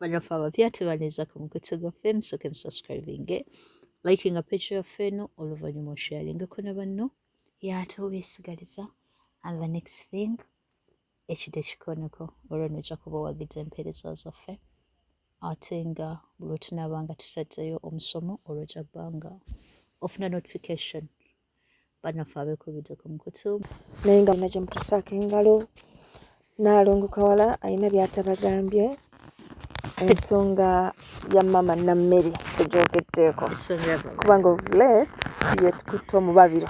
banafe abapya tebanezako mukutse gwaffe musooke musubscribinge likinga page yaffe eno oluvannyuma osharingeko ne banno yaate obeesigaliza and the next thing ekide kikoneko olwo noja kuba owagiza empeereza zaffe ate nga buli otunaba nga tusadzeyo omusomo olwo ojja bbanga ofuna notification banaffe abekubidde ku mukutu naye nga alina gyemutusaako engalo naalongo kawala alina byatabagambye ensonga ya maama nammere egyokeddeeko kubanga ovulet yekutte omubabiro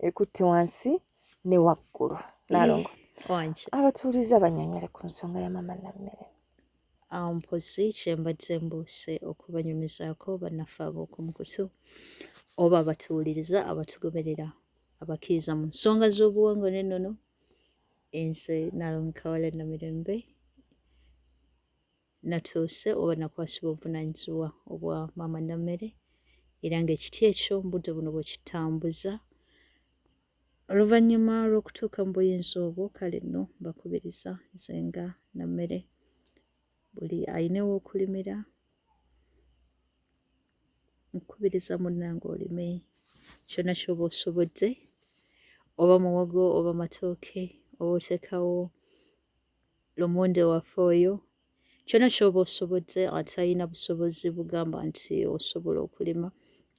ekutte wansi ne waggulu nalongo abatuuliza banyonyole ku nsonga ya mama nammere mpozi kyembadde mbuuse okubanyumizaako bannaffe ab'okumukutu oba abatuwuliriza abatugoberera abakkiriza mu nsonga z'obuwangwa n'ennono enze nalomukawala namirembe natuuse oba nakwasibwa obuvunanyizibwa obwa maama nammere era ngaekiti ekyo mubudde buno bwekitambuza oluvannyuma lw'okutuuka mu buyinza obwo kale nno mbakubiriza nze nga nammere buli alina ew'okulimira nkubiriza munnange olime kyonna kyoba osobodde oba muwogo oba matooke oba otekawo lomonde waffe oyo kyona kyoba osobodde atalina busobozi bugamba nti osobola okulima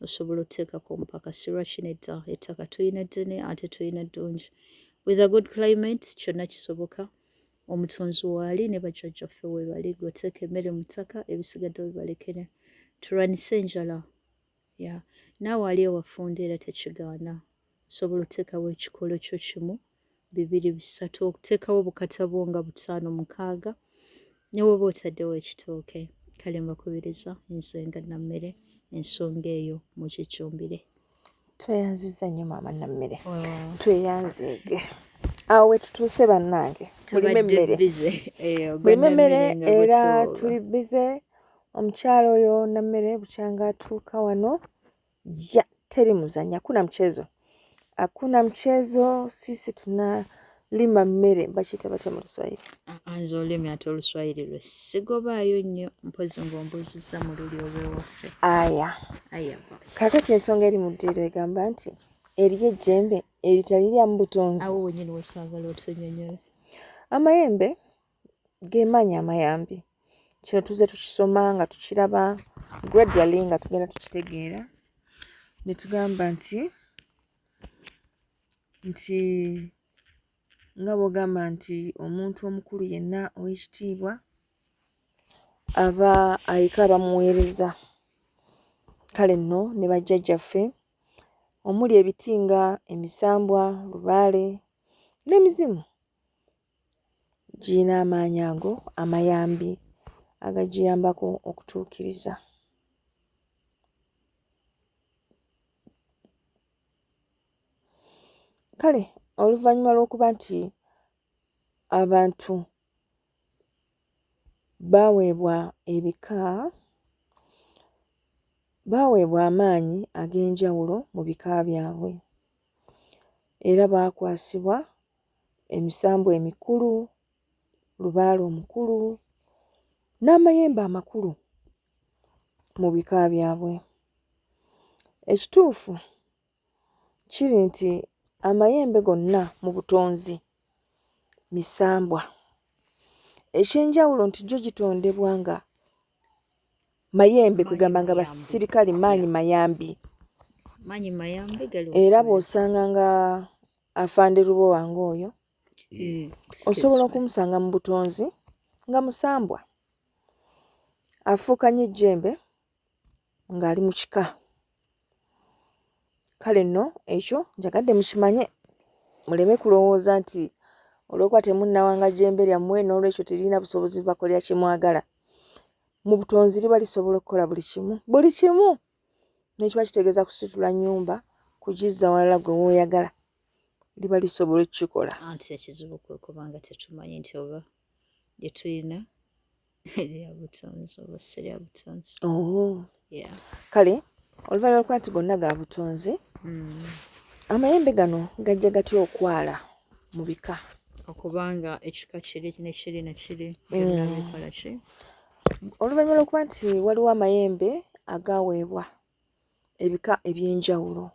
osobola oteekako omupakasi lwaki nedda ettaka tulina ddene ate tulina ddungi with a good climate kyonna kisoboka omutonzi waali ne bajjajjaffe webali goteeka emmere mu ttaka ebisigadde webalekere tulwanise enjala ya naawe ali ewafunda era tekigaana Osobola oteekawo ekikolo kyo kimu, bibiri, bisatu, okuteekawo obukata bwo nga butaano, mukaaga ne woba otaddewo ekitooke. Kale mbakubiriza nze nga Nammere ensonga eyo mukijjumbire. Tweyanziza nnyo maama Nammere. Tweyanzeege. Awo wetutuuse bannange. Mulime emmere. Mulime emmere era tuli bize omukyala oyo Nammere bukyanga atuuka wano. ya teri muzanya kuna mchezo akuna mchezo sisi tuna lima mmere bakiyita batya mu luswayiri anze olimi ate oluswayiri lwe sigobaayo nnyo mpozi ngaombuuzizza mu luli olwewaffe aya aya kakati ensonga eri mu ddiiro egamba nti eriyo ejjembe eritaliryamu butonzi awo wenyini wesagala otusenyonyola amayembe gemaanyi amayambi kino tuze tukisoma nga tukiraba gradually nga tugenda tukitegeera ne tugamba nti nti nga bw'ogamba nti omuntu omukulu yenna ow'ekitiibwa aba ayika abamuweereza kale nno ne bajjajjaffe omuli ebiti nga emisambwa lubaale n'emizimu giyina amaanyi ago amayambi agagiyambako okutuukiriza kale oluvannyuma lw'okuba nti abantu baaweebwa ebika baaweebwa amaanyi ag'enjawulo mu bika byabwe era baakwasibwa emisambwa emikulu lubaale omukulu n'amayembe amakulu mu bika byabwe ekituufu kiri nti amayembe gonna mu butonzi misambwa eky'enjawulo nti gyo gitondebwa nga mayembe kwegamba nga basirikale maanyi mayambi era bw'osanga nga Afande Lubowa ng'oyo mm, osobola okumusanga mu butonzi nga musambwa afuuka nnyo ejjembe ng'ali mu kika kale nno ekyo njagadde mukimanye muleme kulowooza nti olwokuba temunnawanga jjembe lyammwe n'olwekyo teririna busobozi bubakolera kye mwagala mu butonzi liba lisobola okukola buli kimu buli kimu nekiba kitegeeza kusitula nyumba kugizza walala gwe woyagala liba lisobola okukikola anti ekizibu kwe kubanga tetumanyi nti oba lyetulina lyabutonzi oba si lyabutonzi oh. kale oluvannyuma lwokuba nti gonna ga butonzi hmm. amayembe gano gajja gatya okwala mu bika okubanga ekika kiri nekiri nekiri hmm. byonna bikola ki Oluvannyuma lw'okuba nti waliwo amayembe agaaweebwa ebika eby'enjawulo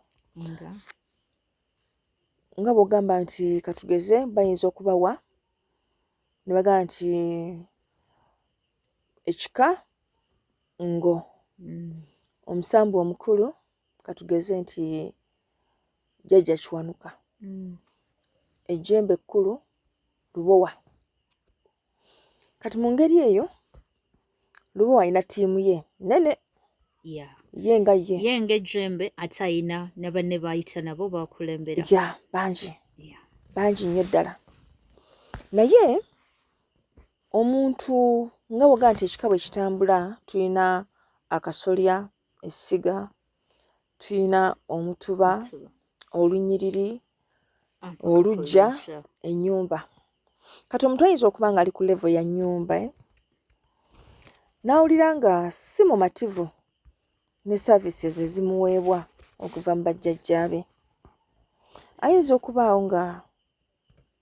nga bw'ogamba nti katugeze bayinza okubawa ne bagamba nti ekika ngo mm. omusambu omukulu katugeze nti jjajja kiwanuka mm. ejjembe ekkulu lubowa kati mu ngeri eyo luba walina ttiimu ye nene ye nga ye ye nga ejjembe ate alina ne banne baayita nabo bakulembera ya bangi bangi nnyo ddala naye omuntu nga woga nti ekika bwe kitambula tulina akasolya essiga tulina omutuba olunyiriri olujja enyumba kati omuntu ayinza okuba nga ali ku levo ya nyumba eh? nawulira nga si mumativu ne services ezimuweebwa okuva mu bajjajjaabe ayinza okubaawo nga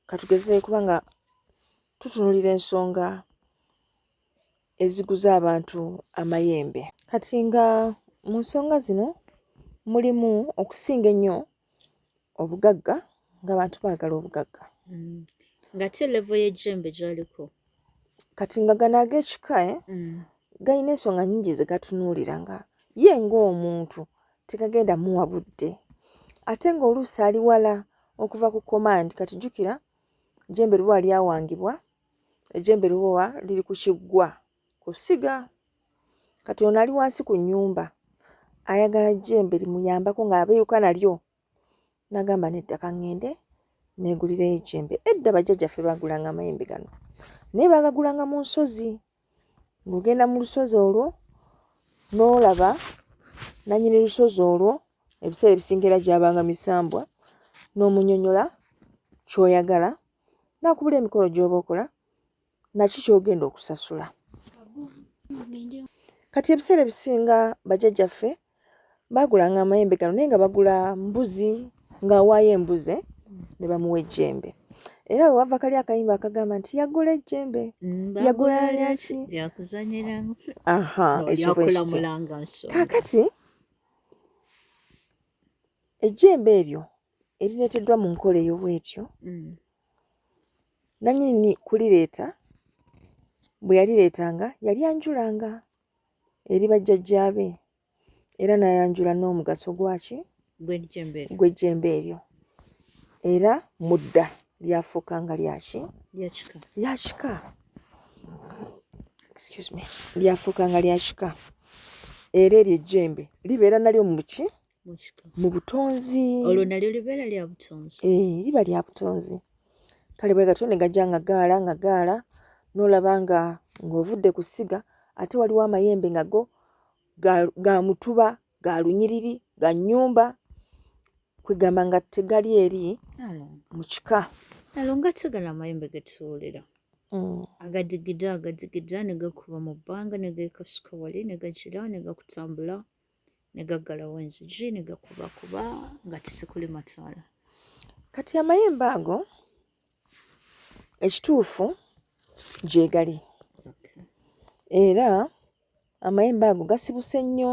katugeze kuba nga tutunulira ensonga eziguza abantu amayembe kati nga mu nsonga zino mulimu okusinga ennyo obugagga ng'abantu baagala obugagga mm. ng'ate levo y'ejjembe gyaliko kati nga gano ag'ekika eh, mm. galina ensonga nyingi ze gatunuulira nga ye ng'omuntu tegagenda muwa budde ate ng'oluusi ali wala okuva ku komandi kati jjukira jjembe luba lyawangibwa ejjembe lubowa liri ku kiggwa ku ssiga kati ono ali wansi ku nnyumba ayagala jjembe limuyambako ng'abeeyuka nalyo nagamba nedda kaŋŋende neegulirayo ejjembe edda bajjajjaffe baagulanga amayembe gano naye baagagulanga mu nsozi ng'ogenda mu lusozi olwo n'olaba nannyini lusozi olwo ebiseera ebisingira gyabanga misambwa n'omunyonyola ky'oyagala nakubula emikolo gyoba okola naki kyogenda okusasula kati ebiseera ebisinga bajajjaffe bagulanga amayembe gano naye nga bagula mbuzi ng'awaayo embuze ne bamuwa ejjembe era bwe wava kali akayimba akagamba nti yagula ejjembe mm, yagula lyaki aha ekyokaakati ejjembe eryo erireeteddwa mu nkola eyo bwetyo mm. nanyini kulireeta bwe yalireetanga yali anjulanga eri bajjajjaabe era nayanjula n'omugaso gwaki gw'ejjembe eryo era mudda lyafuuka nga lyaki lyakika lyafuuka nga lyakika era eryo ejjembe libeera nalyo muki mu butonzi olwo nalyo libeera lya butonzi eh, liba lya butonzi kale bwe gatyo ne gajja nga gaala nga gaala n'olaba nga ng'ovudde ku ssiga ate waliwo amayembe nga go ga mutuba ga lunyiriri ga nnyumba kwegamba nga tegali eri mu kika alo nga tegala amayembe getusobolera mm. agadigida agadigida ne gakuba mu bbanga ne geekasuka wali ne gagira ne gakutambula mm. ne gaggalawo enzigi ne gakubakuba nga tisikuli mataala kati amayembe ago ekituufu gyegali era amayembe ago gasibuse nnyo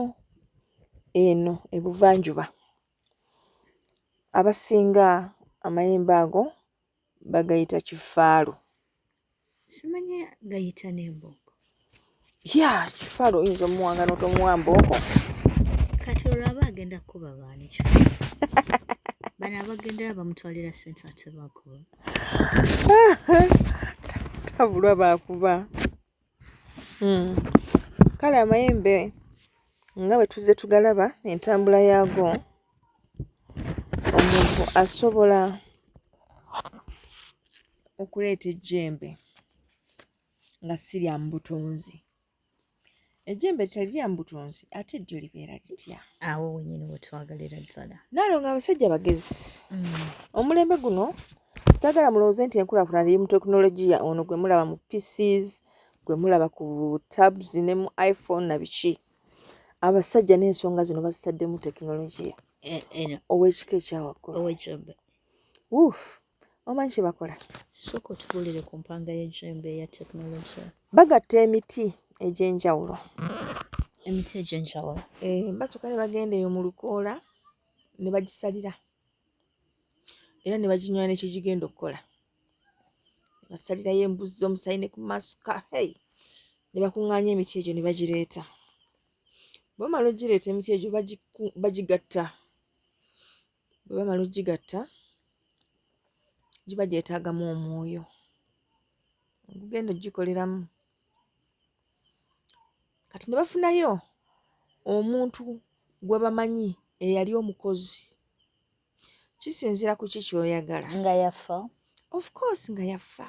eno ebuvanjuba abasinga amayembe ago bagayita kifaalu simanya gayita n'embooko ya kifaala oyinza omuwanga n'otomuwa mbooko kati olwaba agenda kukuba baanikyo bano abagenda bamutwalira sente ate bakuba tabulwa bakuba Hmm. kale amayembe nga bwe tuzze tugalaba entambula yaago omuntu asobola okuleeta ejjembe nga si lya mu butunzi ejjembe teri lya mu butunzi ate ddyo libeera litya awo wenyini wetwagalira ddala naalo nga abasajja bagezi hmm. omulembe guno Sagala mulowooze nti enkulaakulana eri mu tekinologiya ono gwe mulaba mu PCs, gwe mulaba ku tabs ne mu iPhone na biki. Abasajja n'ensonga zino bazitaddemu tekinologiya eh, eh, ow'ekika ekyawaggulu. Wuuf, omanyi kye bakola? Sooka otubulire ku mpanga y'ejjembe eya tekinologiya. Bagatta emiti egy'enjawulo. Emiti egy'enjawulo. Eh, basooka ne bagenda eyo mu lukoola ne bagisalira. era ne baginywera ne kyegigenda okukola basalirayo embuzzi omusaayi ne ku masuka hey ne bakuŋŋaanya emiti egyo ne bagireeta bwebamala ogireeta emiti egyo bagigatta bwebamala ogigatta giba gyetaagamu omwoyo ogugenda ogikoleramu kati ne bafunayo omuntu gwe bamanyi eyali omukozi kisinzira ku ki kyoyagala nga yafa of course nga yafa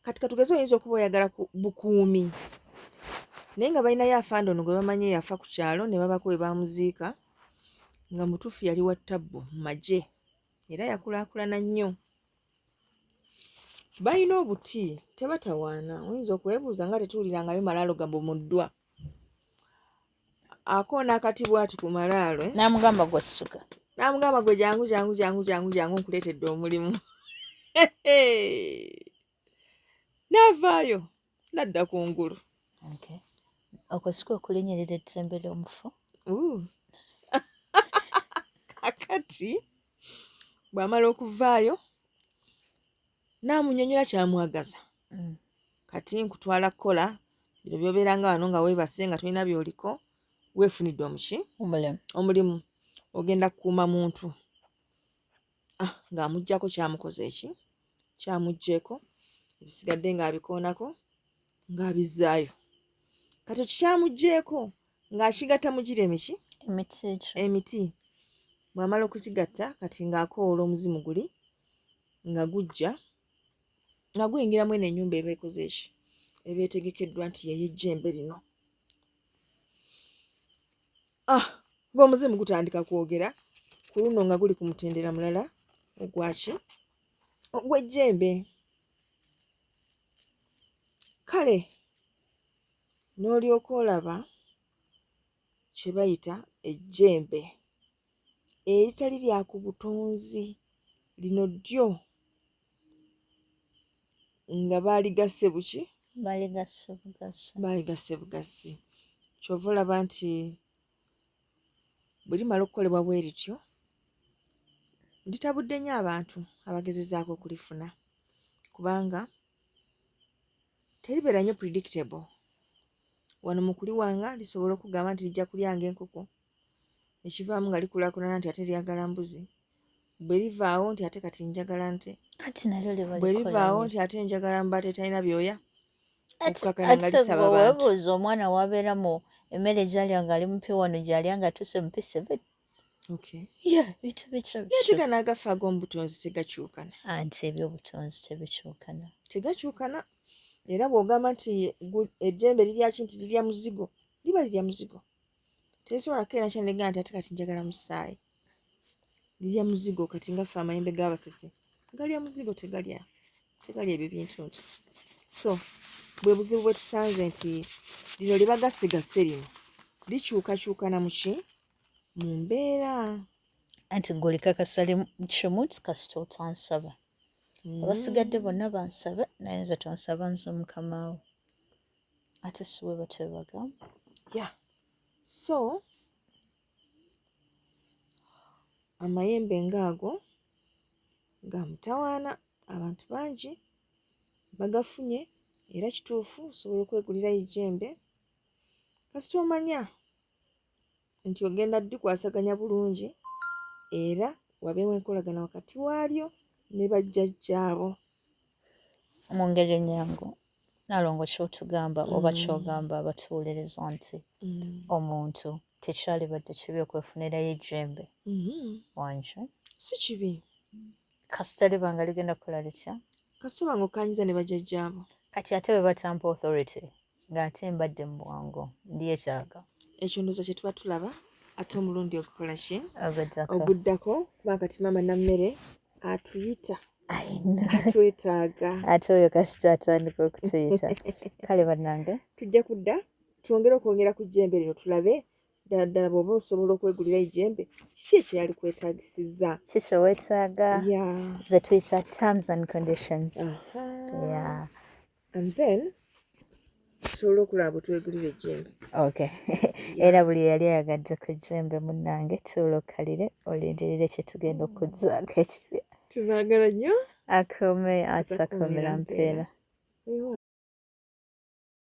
kati katugeze oyinza okuba oyagala bukuumi naye nga balinayo afande ono gwe bamanyi eyafa ku kyalo ne babako we bamuziika nga mutuufu yali wa ttabbu mu magye era yakulaakulana nnyo balina obuti tebatawaana oyinza okwebuuza nga tetuwulirangayo malaalo gabumuddwa akoona akati bwati ku malaalo eh? namugamba gwasuka namugamba gwe jangu jangu jangu jangu jangu nkuleetedde omulimu navaayo nadda ku ngulu okwo si kwe kulinyirira ettembe ly'omufu kakati bw'amala okuvaayo n'amunyonyola kyamwagaza mm. kati nkutwala kukola bino byobeeranga wano nga weebase nga tolina byoliko weefunidde omuki omulimu ogenda kukuuma muntu ah, ng'amugjako kyamukoze eki kyamugyeko ebisigadde ng'abikoonako ng'abizzaayo kati okikyamugyeko ng'akigatta mu gira emiki emiti bw'amala okukigatta kati ng'akoola omuzimu guli nga gujja nga guyingira mu eno ennyumba eba ekoze eki eba etegekeddwa nti yeyejjembe lino ah ng'omuzimu gutandika kwogera ku luno nga guli ku mutendera mulala ogwaki ogw'ejjembe kale n'olyoka olaba kye bayita ejjembe eritali lya ku butonzi lino ddyo nga baaligasse buki baaligasse bugassi kyova olaba nti bwe limala okukolebwa bwe lityo litabudde nnyo abantu abagezezaako okulifuna kubanga teribeera nnyo predictable wano mu kuliwanga lisobola okugamba nti lijja kulyanga enkoko ekivaamu nga likulakulana nti ate lyagala mbuzi bwe livaawo nti ate kati njagala nte bwe livaawo nti ate njagala mba tetalina byoya okukakana nga lisaba abantu omwana wabeera mu emmere gyalya nga ali mupya wano gyalya nga tuse mupisa nategana agafa ag'omubutonzi tegakyukana anti ebyobutonzi tebikyukana tegakyukana era bw'ogamba nti ejjembe liryaki nti lirya muzigo liba lirya muzigo tezisobola kukeera kyanegamba nti ate kati njagala musaayi lirya muzigo kati nga ffe amayembe g'abasisi galya muzigo tegalya tegalya ebyo bintu nti so bwe buzibu bwe tusanze nti lino lye bagasigase lino likyukakyukana mu ki mu mbeera anti gwe olikakasa kimu nti kasita otansaba mm. abasigadde bonna bansaba naye nze tonsaba nze omukamawo ate siwe batebaga ya so amayembe ngaago ga mutawaana abantu bangi bagafunye era kituufu osobola okwegulirayo ejjembe kasita omanya nti ogenda dikwasaganya bulungi era wabeewo enkolagana wakati waalyo ne bajjajjaabo mu ngeri enyangu nalongo kyotugamba mm. oba kyogamba abatuwuliriza nti mm. omuntu tekyalibadde kibi okwefunirayo ejjembe mm-hmm. wanje si kibi kasita liba nga ligenda kola litya kasita oba nga okanyiza ne bajajjaabo kati ate bwe batampa authority ng'ate mbadde mu bwongo ndyetaaga ekyo ndoza kye tuba tulaba ate omulundi ogukola ki oguddako kuba kati maama nammere atuyita atwetaaga ate oyo kasita atandika okutuyita kale bannange tujja kudda twongere okwongera ku jjembe lino tulabe ddala ddala bw'oba osobola okwegulira ejjembe kiki ekyo yali kwetaagisiza kiki owetaaga ze tuyita terms and conditions yeah. and then tusobola okulaba bwetwegulira ejjembe ok era buli eyali ayagadde ku ejjembe munnange tuula okkalire olindirire kyetugenda okuzzaako ekibya tubagala nnyo akome atakomera mpeera